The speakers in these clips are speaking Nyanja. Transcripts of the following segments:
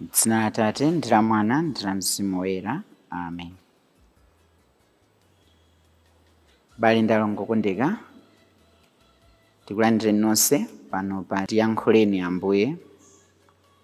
M'dzina la Atate ndi la Mwana ndi la Mzimu Woyera. Amen. Abale ndi alongo okondeka, tikulandireni nonse pano pa tiyankhuleni Ambuye.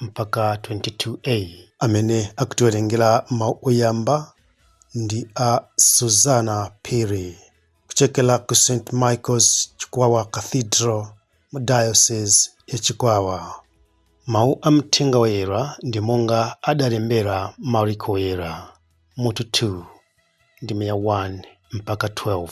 mpaka 22a. Amene akutiwerengera mau oyamba ndi a Suzana Phiri kuchokera ku St. Michael's Chikwawa Cathedral mu Diocese ya Chikwawa. Mau a Mthenga Woyera ndi monga adalembera Mariko Woyera mutu 2 ndime ya 1-12.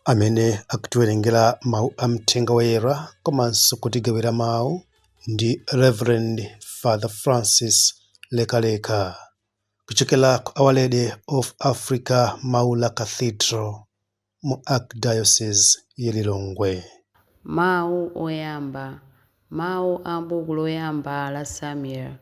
amene akutiwerengera mawu a mthenga woyera komanso kutigawira mawu ndi Reverend Father Francis Lekaleka kuchokera ku Our Lady of Africa Maula Cathedral mu Archdiocese ya Lilongwe. Mawu Oyamba Mawu a m'buku loyamba la Samueli.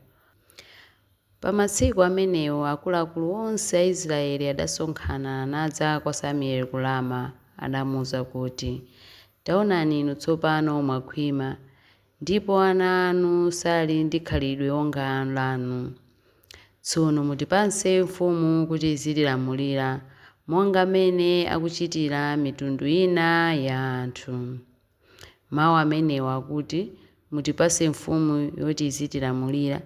Pa matsiku amenewo akuluakulu onse a Israyeli adasonkhana, nadza kwa Samueli ku Rama. Adamuuza kuti, Taonani inu tsopano mwakhwima, ndipo ana anu sali ndi khalidwe wonga lanu. Tsono mutipatse mfumu kuti izitilamulira, monga m'mene akuchitira mitundu ina ya anthu. Mawu amenewa akuti, Mutipatse mfumu yoti izitilamulira,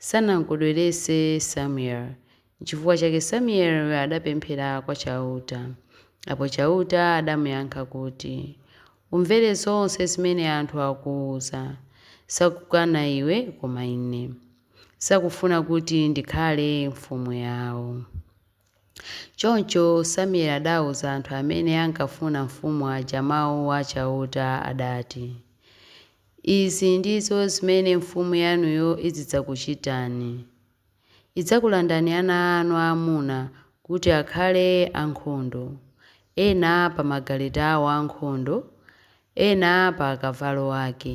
sanam'kondweretse Samueli. N'chifukwa chake Samueli adapemphera kwa Chauta. Apo Chauta adamuyankha kuti, Umvere zonse zimene anthu akuuza. Sakukana iwe koma Ine. Sakufuna kuti ndikhale mfumu yao. Choncho Samueli adauza anthu amene ankafuna mfumu aja mau a Chauta adati, Izi ndizo zimene mfumu yanuyo izidzakuchitani, Idzakulandani ana anu aamuna kuti akhale ankhondo, ena pa magaleta ao ankhondo, ena pa akavalo ake,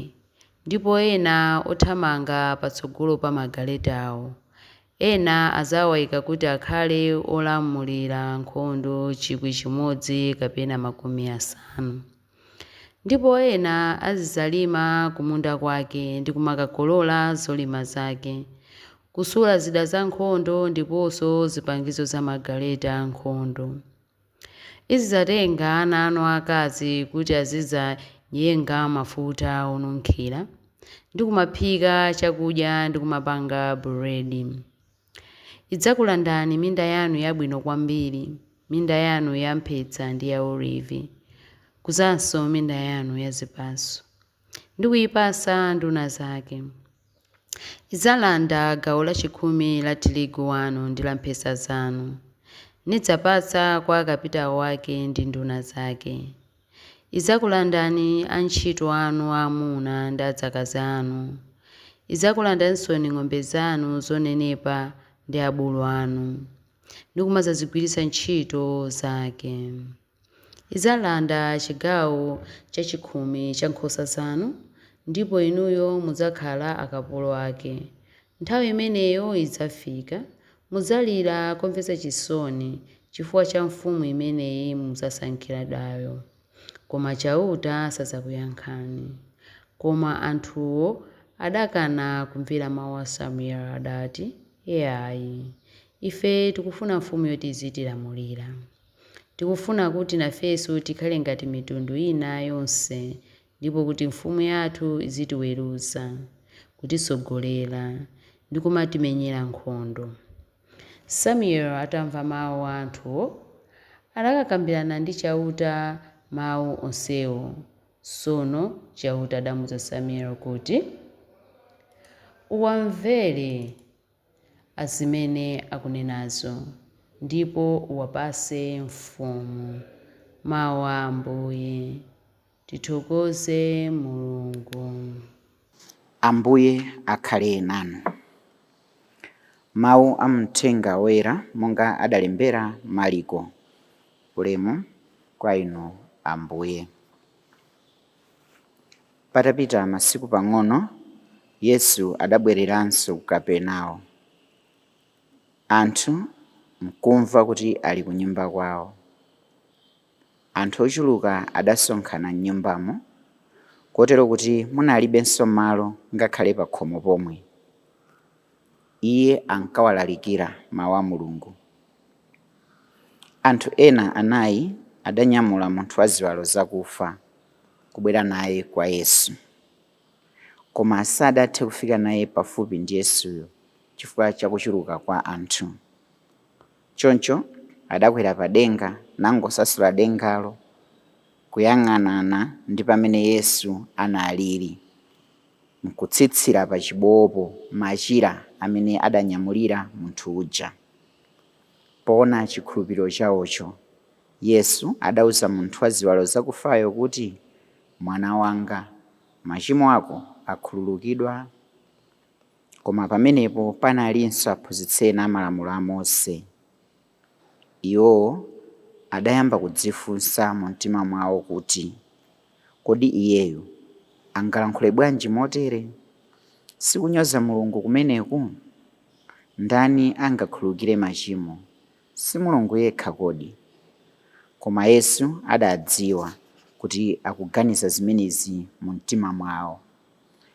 ndipo ena othamanga patsogolo pa magaletawo, Ena adzawaika kuti akhale olamulira nkhondo chikwi chimodzi kapena makumi asanu. Ndipo ena azidzalima kumunda kwake, ndi kumakakolola zolima zake, kusula zida zankhondo ndiponso zipangizo za magaleta ankhondo. Izidzatenga ana anu aakazi kuti azidzayenga mafuta onunkhira, ndi kumaphika chakudya ndi kumapanga buledi. Idzakulandani minda yanu yabwino kwambiri, minda yanu ya mphesa ndi ya olivi, kudzanso minda yanu ya zipatso. ndi kuipasa nduna zake. Idzalanda gawo lachikhumi la tirigu wanu ndi la mphesa zanu, nidzapatsa kwa akapitao ake ndi nduna zake. Idzakulandani antchito anu aamuna ndi adzakazi anu, idzakulandaninso ng'ombe zanu zonenepa ndi abulu anu, ndi kumadzazigwiritsa ntchito zake. Idzalanda chigawo chachikhumi cha nkhosa zanu, ndipo inuyo mudzakhala akapolo ake. Nthawi imeneyo idzafika, mudzalira komvetsa chisoni chifukwa cha mfumu imene mudzasankhiradayo, koma Chauta sadzakuyankhani. Koma anthuwo adakana kumvera mau a Samueli, adati, Iai, ife tikufuna mfumu yoti izitilamulira. Tikufuna kuti nafenso tikhale ngati mitundu ina yonse ndipo kuti Mfumu yathu izitiweruza, kutitsogolera, ndi kumatimenyera nkhondo. Samueli atamva mawu a anthuwo, adakakambirana ndi Chauta mawu onsewo. Tsono Chauta adamuuza Samueli kuti, Uwamvere. zimene akunenazo, ndipo uwapase mfumu mau a Ambuye. Tithokoze Mulungu. Ambuye akhale nanu. Mau a Mthenga Woyera monga adalembera Maliko. Ulemu kwa Inu Ambuye. Patapita masiku pang'ono, Yesu adabwereranso ku Kapernao. Anthu nkumva kuti ali ku nyumba kwawo. Anthu ochuluka adasonkhana m'nyumbamo, kotero kuti munalibenso malo ngakhale pakhomo pomwe. Iye ankawalalikira Mawu a Mulungu. Anthu ena anayi adanyamula munthu wa ziwalo zakufa kubwera naye kwa Yesu. Koma sadathe kufika naye pafupi ndi Yesuyo chifukwa cha kuchuluka kwa anthu. Choncho adakwera pa denga nangosasula dengalo kuyang'anana ndi pamene Yesu analiri, nkutsitsira pa chibowopo machira amene adanyamulira munthu uja. Poona chikhulupiriro chaocho, Yesu adauza munthu wa ziwalo zakufayo kuti, Mwana wanga, machimo ako akhululukidwa. Koma pamenepo panalinso aphunzitsi ena a Malamulo a Mose. Iwowo adayamba kudzifunsa mumtima mwawo kuti, Kodi iyeyu angalankhule bwanji motere? Si kunyoza Mulungu kumeneku? Ndani angakhululukire machimo, si Mulungu yekha kodi? Koma Yesu adadziwa kuti akuganiza zimenezi mumtima mwao.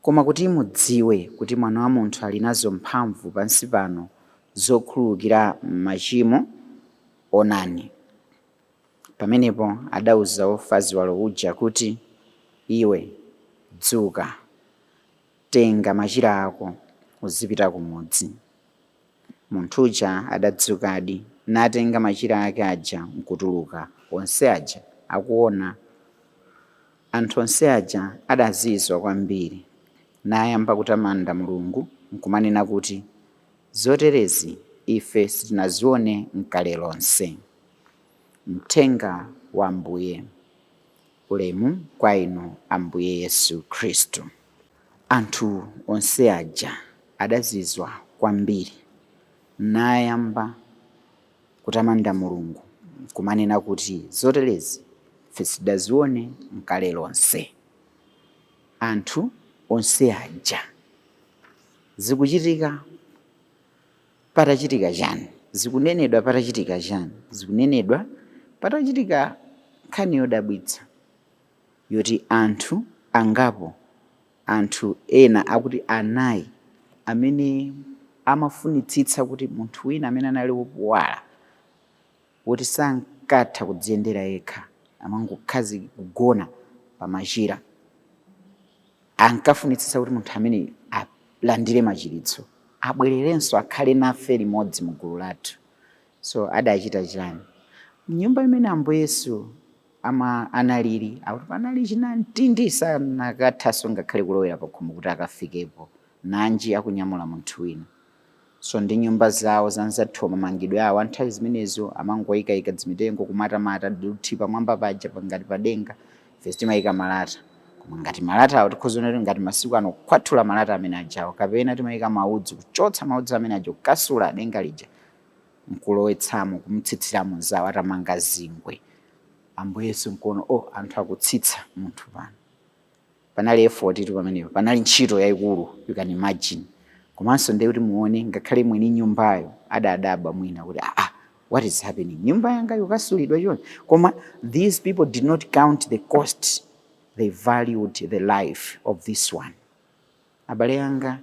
Koma kuti mudziwe kuti Mwana wa munthu ali nazo mphamvu pansi pano zokhululukira machimo, onani, Pamenepo adauza wofa ziwalo uja kuti, Iwe, dzuka, tenga machira ako, uzipita kumudzi. Munthu uja adadzukadi, natenga machira ake aja nkutuluka. Onse aja akuwona, anthu onse aja adazizwa kwambiri, nayamba kutamanda Mulungu nkumanena kuti, Zoterezi ife sitinaziwone nkale lonse. Mthenga wa Ambuye. Ulemu kwa Inu, Ambuye Yesu Khristu. Anthu onse aja adazizwa kwambiri, nayamba kutamanda Mulungu nkumanena kuti, Zoterezi ife sitidaziwone nkale lonse. Anthu onse aja zikuchitika patachitika chani? Zikunenedwa patachitika chani? Zikunenedwa patachitika nkhani yodabwitsa. yoti anthu angapo, anthu ena akuti anayi, amene amafunitsitsa kuti munthu wina amene anali wopuwala, woti sankatha kudziyendera yekha, amangokhazi kugona pa machira, ankafunitsitsa kuti munthu ameneyu alandire machiritso, abwererenso akhale nafe limodzi mu gulu lathu. So adachita chiyani? M'nyumba imene Ambuye Yesu analili akuti panali chinamtindi sanakathanso ngakhale kulowera pakhomo kuti akafikepo, nanji akunyamula munthu wina. So ndi nyumba zawo zanzathu mamangidwe awo a nthawi zimenezo amangoyikaika dzimitengo kumatamata dothi pamwamba paja pa- ngati padenga ife timayika malata koma ngati malata awo tikhoza kunena kuti ngati masiku ano kukwatula malata amene ajawo kapena timayika maudzu kuchotsa maudzu amene aja kukasula denga lija nkulowetsamo kumutsitsiramo anzawo atamanga zingwe ambuye yesu nkuona o oh, anthu akutsitsa munthu pano panali effort tu pamenepo panali ntchito yayikulu you can imagine komanso ndiye kuti muone ngakhale mwini nyumbayo adadabwa mwina kuti aa ah, ah, what is happening nyumba yanga yokasulidwa chonchi koma these people did not count the cost they valued the life of this one Abale anga,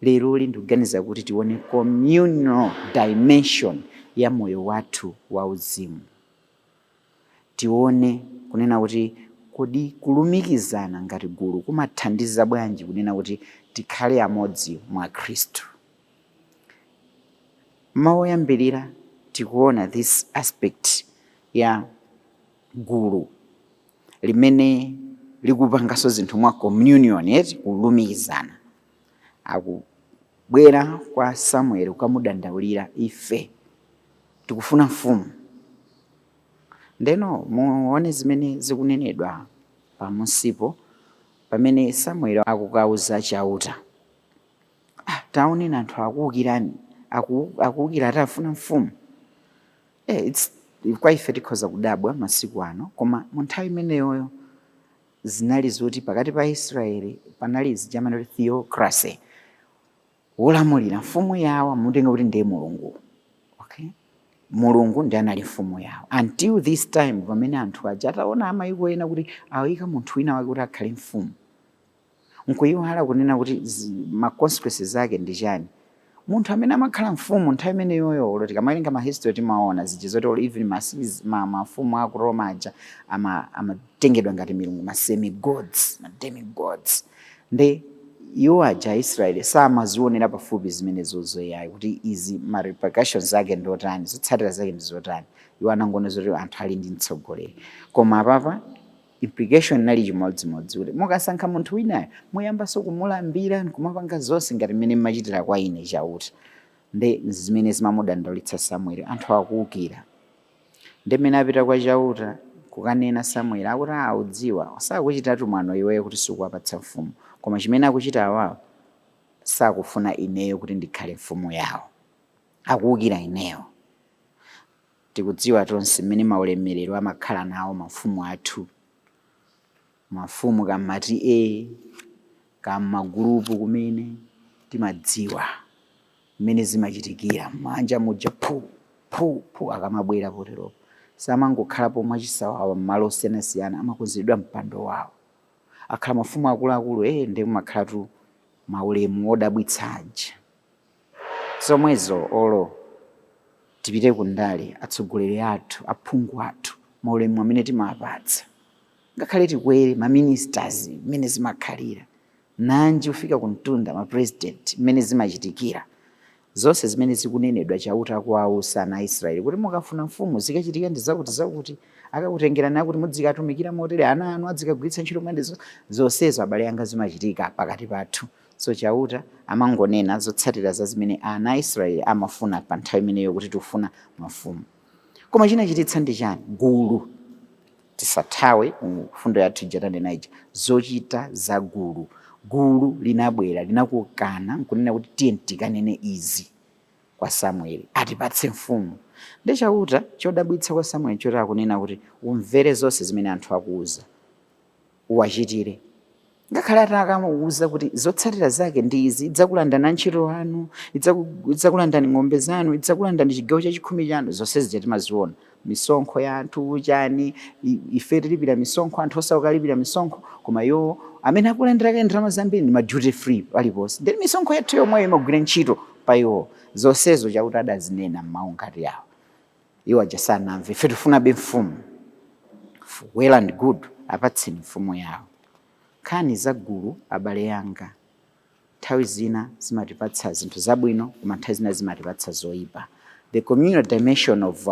leroli ndikuganiza kuti tione communal dimension ya moyo wathu wa uzimu. Tione kunena kuti kodi kulumikizana ngati gulu kumathandiza bwanji kunena kuti tikhale amodzi mwa Khristu. Mawu oyambirira tikuona this aspect ya gulu limene likupanganso zinthu mwa communion eti kulumikizana akubwera kwa samueli ukamudandaulira ife tikufuna mfumu ndeno muone zimene zikunenedwa pamunsipo pamene samueli akukawuza chauta "Ah, taoneni anthu akuukirani aku- akuukira afuna mfumu Eh, it's kwa ife tikhoza kudabwa masiku ano, koma mu nthawi imeneyoyo zinali zoti pakati pa Aisraeli panali zijamani kuti theocracy, wolamulira mfumu yawo amutenga kuti ndi mulungu okay? mulungu ndiye anali mfumu yawo until this time pamene anthu aja ataona amayiko ena kuti awika munthu wina wake kuti akhale mfumu nkuyiwala kunena kuti ma consequences zake ndi chani munthu amene amakhala mfumu nthawi imeneyoyo olo tikamawerenga ma history timaona zija zoti olo even mafumu ma, ma, ma aku Roma aja amatengedwa ama ngati milungu ma semi gods ma demi gods nde iwo aja Aisraeli samazionera pafupi zimene zozoyayi kuti izi ma repercussions zake ndi otani zotsatira zake ndi zotani iwo anangoona zoti anthu ali ndi mtsogoleri koma apapa implication inali chimodzimodzi kuti mukasankha munthu winayo muyambanso kumulambira nkumapanga zonse ngati mmene mmachitira kwa ine chauta nde zimene zimamudandaulitsa samueli anthu akuukira nde mmene apita kwa chauta kukanena samueli akuti "Ah, udziwa sakuchitatu mwano iweyo kuti sukuwapatsa mfumu koma chimene akuchita awawo sakufuna ineyo kuti ndikhale mfumu yawo akuukira ineyo Tikudziwa tonse mmene maulemmerero amakhala nawo mafumu athu. Mafumu ka mma TA, ka mma gulupu kumene, timadziwa mmene zimachitikira. Mmanja muja phu! phu! phu! akamabwera poteropo. Samangokhalapo mwachisawawa mmalo osiyanasiyana, amakonzedwa mpando wawo. Akhala mafumu akuluakulu, ee ndiye kumakhalatu maulemu odabwitsa aja. zomwezo olo tipite ku ndale atsogoleri athu aphungu athu maulemu amene timawapatsa ngakhale tikwere ma ministers mmene zimakhalira nanji ufika ku mtunda ma president mmene zimachitikira zonse zimene zikunenedwa chauta akuwauza ana a israeli kuti mukafuna mfumu zikachitika ndi zakuti zakuti akakutengerani akuti mudzikatumikira motere ana anu adzikawagwiritsa ntchito mwene zonsezo abale anga zimachitika pakati pathu So Chauta amangonena zotsatira za zimene ana a Israeli amafuna pa nthawi imeneyo kuti tikufuna mafumu. Koma chinachititsa ndi chani? Gulu. Tisathawe ku mfundo yathu ija tanena ija, zochita za gulu. Gulu linabwera, linakokana nkunena kuti tiyeni tikanene izi kwa Samueli, atipatse mfumu. Nde Chauta, chodabwitsa kwa Samueli nchoti akunena kuti, umvere zonse zimene anthu akuuza. uwachitire. Ngakhale atakamuuza kuti zotsatira zake ndi izi, idzakulandani antchito anu, idzakulandani ng'ombe zanu, idzakulandani chigawo cha chikhumi chanu, zonse zija timaziona misonkho ya anthu chani, ife tilipira misonkho, anthu osauka alipira misonkho, koma iwo amene akulandira kaye ndalama zambiri ndi ma duty free paliponse, nde misonkho yathu yomweyo imagwira ntchito pa iwo. Zonsezo Chauta adazinena m'mawu ngati awa. iwo aja sanamve ife tifunabe mfumu well and good apatseni mfumu yawo nkhani za gulu abale yanga nthawi zina zimatipatsa zinthu zabwino koma nthawi zina zimatipatsa zoyipa the communal dimension of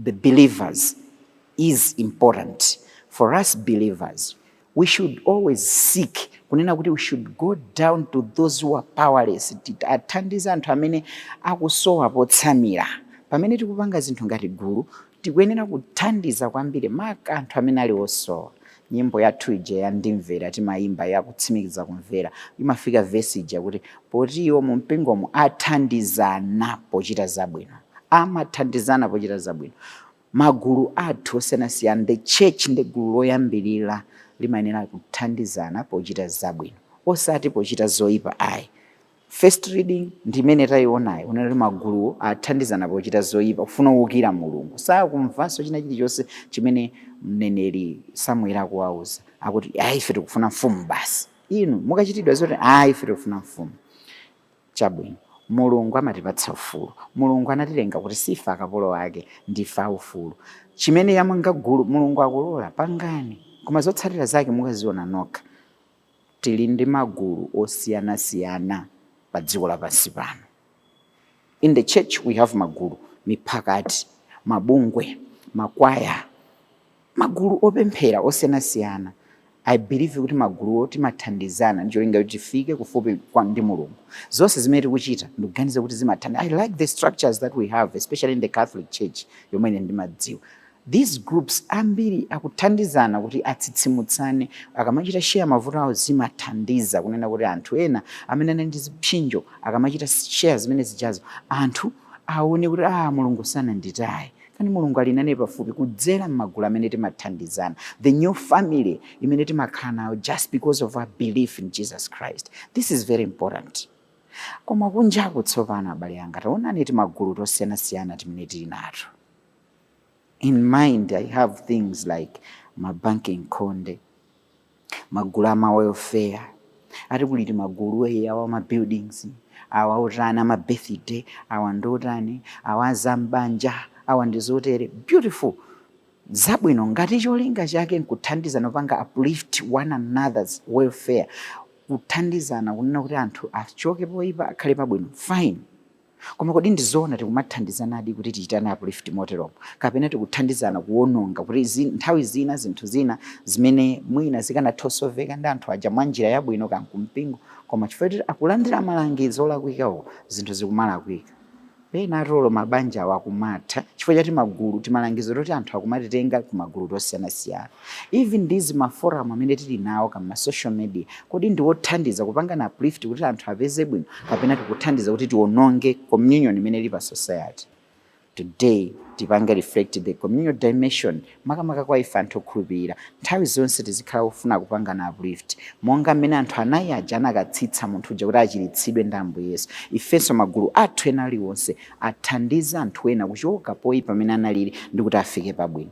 the believers is important for us believers We should always seek kunena kuti we should go down to those who are powerless athandize anthu amene akusowa potsamira pamene tikupanga zinthu ngati gulu tikuyenera kuthandiza kwambiri maka anthu amene ali osowa nyimbo yathu ija ya ndimvera timayimba yakutsimikiza kumvera imafika vesi ija akuti poti iwo mu mpingomo athandizana pochita zabwino amathandizana pochita zabwino Magulu athu osiyanasiyana, the church ndi gulu loyambilira limayenera kuthandizana pochita zabwino osati pochita zoipa ayi. First reading ndi imene taionayo unali magulu athandizana pochita zoipa kufuna kuukira Mulungu. Sakumvanso china chilichonse chimene mneneri Samueli akuwauza. Akuti, ayi ife tikufuna mfumu basi. Inu mukachitidwa zoti, ayi ife tikufuna mfumu. Chabwino, Mulungu amatipatsa ufulu. Mulungu anatilenga kuti siife akapolo Ake, ndife aufulu. Chimene yamanga gulu, Mulungu akulola, pangani, koma zotsatira zake mukaziona nokha. Tili ndi magulu osiyanasiyana pa dziko lapansi pano. In the church we have magulu, miphakati, mabungwe, makwaya. Magulu opemphera osiyanasiyana, I believe kuti maguluwo timathandizana ndi cholinga choti tifike kufupi ndi Mulungu. Zonse zimene tikuchita ndikuganiza kuti zimathandi I like the structures that we have especially in the Catholic Church yomwe ine ndimadziwa. These groups ambiri akuthandizana kuti atsitsimutsane. Akamachita share mavuto awo zimathandiza kunena kuti anthu ena amene anali ndi zipsinjo akamachita share zimene zijazo anthu aone kuti aah Mulungu sananditaye. Kani Mulungu ali nane pafupi kudzera m'magulu amene timathandizana, the new family imene timakhala nayo just because of our belief in Jesus Christ. This is very important. Koma kunjaku tsopano abale anga taonani timagulu tosiyanasiyana timene tili nato. In mind I have things like ma banki nkhonde magulu ama welfare ati kuli timagulu eyi awa ma buildings awa otani ama birthday awa ndi otani awa azam'banja awa ndi zotere beautiful zabwino ngati cholinga chake nkuthandizana kupanga uplift one another's welfare kuthandizana kunena kuti anthu achoke poipa akhale pabwino fine Koma kodi ndi zoona tikumathandizanadi kuti tichitane uplift moteromo? Kapena tikuthandizana kuwononga kuti zi, nthawi zina zinthu zina zimene mwina zikanatha osoveka ndi anthu aja mwa njira yabwino kaya nkumpingo koma chifukwa choti akulandira malangizo olakwika uku zinthu zikumalakwika. Penatu olo mabanjawo akumatha chifukwa cha timagulu, timalangizo toti anthu akumatitenga ku magulu tosiyanasiyana. Even these ma forum amene tili nawo ka ma social media kodi ndiwothandiza kupangana uplift kuti anthu apeze bwino kapena tikuthandiza kuti tiononge communion imene ili pa society today tipange reflect the communal dimension makamaka kwa ife anthu okhulupirira nthawi zonse tizikhala ofuna kupangana uplift monga mmene anthu anayi aja anakatsitsa munthu uja kuti achiritsidwe ndi ambuye yesu ifenso magulu athu ena aliwonse athandize anthu ena kuchoka poyipa pamene analili ndi kuti afike pabwino